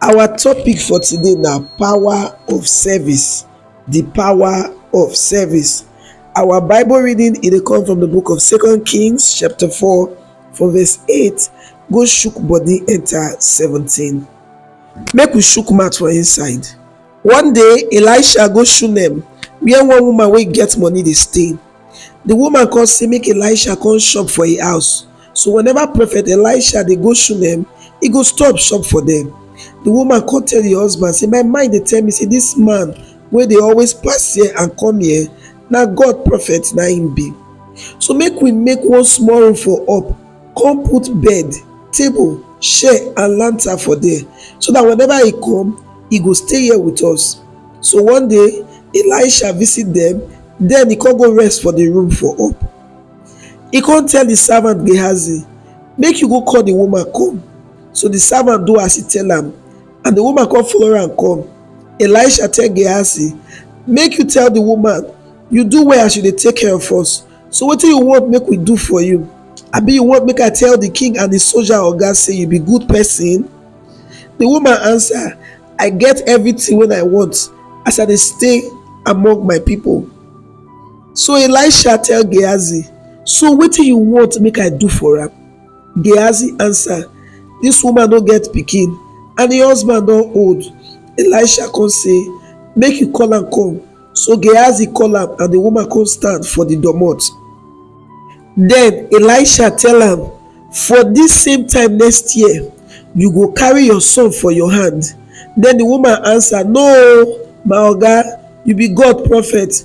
Our topic for today na power of service, di power of service. Our bible reading e dey come from di book of second kings chapter four from verse eight go shook body enter seventeen. Make we shook mouth for inside. One day Elisha go Shunem where one woman wey get money dey stay, di woman come say make Elisha come chop for im house. So whenever prophet Elisha dey go Shunem, he go stop shop for them. The woman come tell the husband say, my mind dey tell me say this man wey dey always pass here and come here, na God prophet na him be. So make we make one small room for up, come put bed, table, chair and lantern for there so that whenever he come, he go stay here with us. So one day, Elisha visit them, then he come go rest for the room for up. He come tell the servant Gehazi, Make you go call the woman come. So the servant do as he tell am, and the woman come follow am come. Elisha tell Gehazi, Make you tell the woman, You do well as you dey take care of us. So wetin you want make we do for you? Abi you want make I tell the king and the soldier oga say you be good person? The woman answer, I get everything wey I want as I dey stay among my people. So Elisha tell Gehazi, So wetin you want make I do for am? Gehazi answer, This woman no get pikin and her husband don old. Elisha come say, Make you call am come. So Gehazi call am and the woman come stand for the domot. Then Elisha tell am, For this same time next year, you go carry your son for your hand. Then the woman answer, No, my oga, you be God prophet.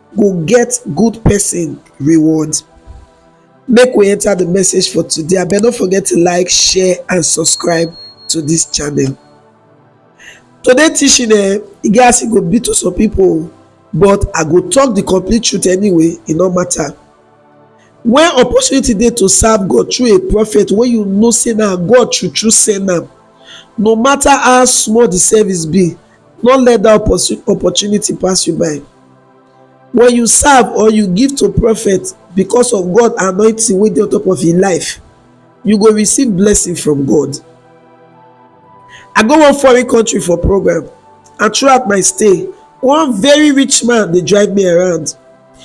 go get good person reward make we enter the message for today abeg no forget to like share and subscribe to this channel today teaching eh e get as e go be to some people but i go talk the complete truth anyway e no matter when opportunity dey to serve god through a prophet wey you know say na god true true send am no matter how small the service be No let that opportunity pass you by. When you serve or you give to prophet because of God anointing wey dey on top of your life, you go receive blessing from God. I go one foreign country for program and throughout my stay, one very rich man dey drive me around.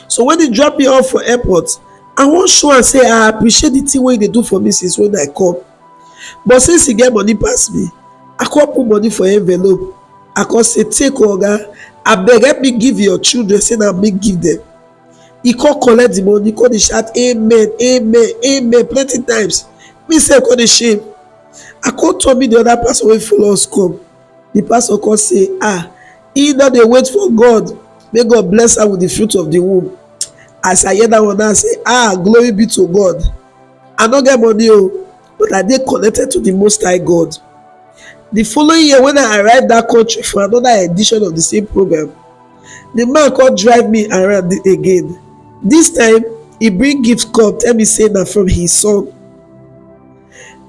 So when he drop me off for airport, I wan show am say I appreciate the thing wey he dey do for me since when I come. but since he get money pass me i come put money for envelope i come say take o oga abeg help me give your children say na me give them he come collect the money come dey shout amen amen amen plenty times me sef come dey shame i come turn me the other pastor wey follow us come the pastor come say ah he no dey wait for god make god bless am with the fruit of the womb as i hear that one now i say ah glory be to god I no get money o, oh, but I dey connected to the Most High God. The following year when I arrived that country for another edition of the same program, the man come drive me around again. This time, he bring gift come tell me say na from his son.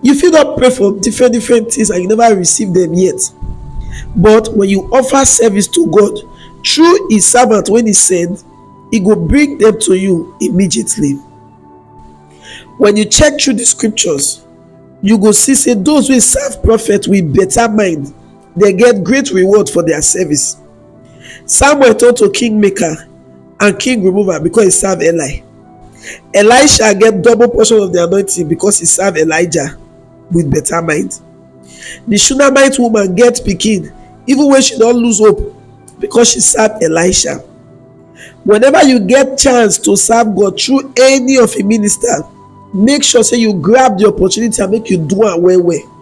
You fit don pray for different different things and you never receive them yet. But when you offer service to God through his servant when he send, he go bring them to you immediately. When you check through the scriptures, you go see say those wey serve prophet with better mind dey get great reward for their service. Samuel turn to kingmaker and king remover because he serve Eli. Elisha get double portion of the anointing because he serve Elijah with better mind. The Shunammite woman get pikin even when she don lose hope because she serve Elisha. Whenever you get chance to serve God through any of a minister, make sure say you grab the opportunity and make you do am well well.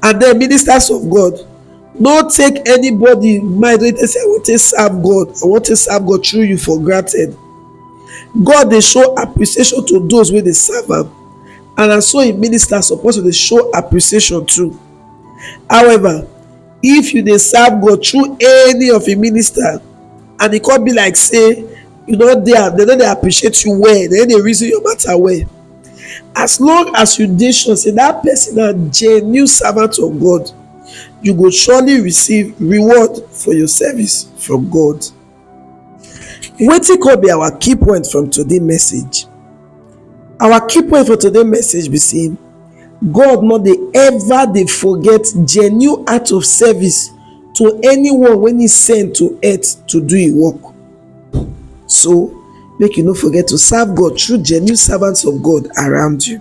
And then ministers of God, no take anybody mind wey dey say I wan take serve God, I wan take serve God through you for granted. God dey show appreciation to those wey dey serve am and na so im ministers suppose to dey show appreciation too. However, if you dey serve god through any of im minister and e come be like say you no dey am dem no dey appreciate you well dem no dey reason your matter well as long as you dey sure say that person na genuine servant of god you go surely receive reward for your service from god Wetin come be our key point from today message? Our key point for today message be sey God no dey ever dey forget genuine act of service to anyone wey he send to earth to do him work. So make you no forget to serve God through genuine servants of God around you.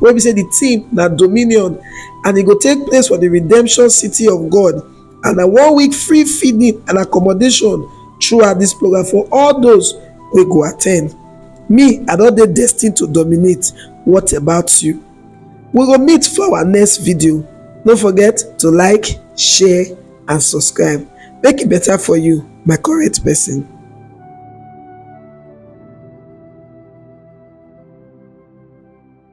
wey be say di theme na dominion and e go take place for di redemption city of God and na one week free feeding and accommodation throughout dis program for all those wey go attend. Me, I don dey destined to dominate. What about you? We go meet for our next video. No forget to like, share and subscribe. Make e better for you, my correct person.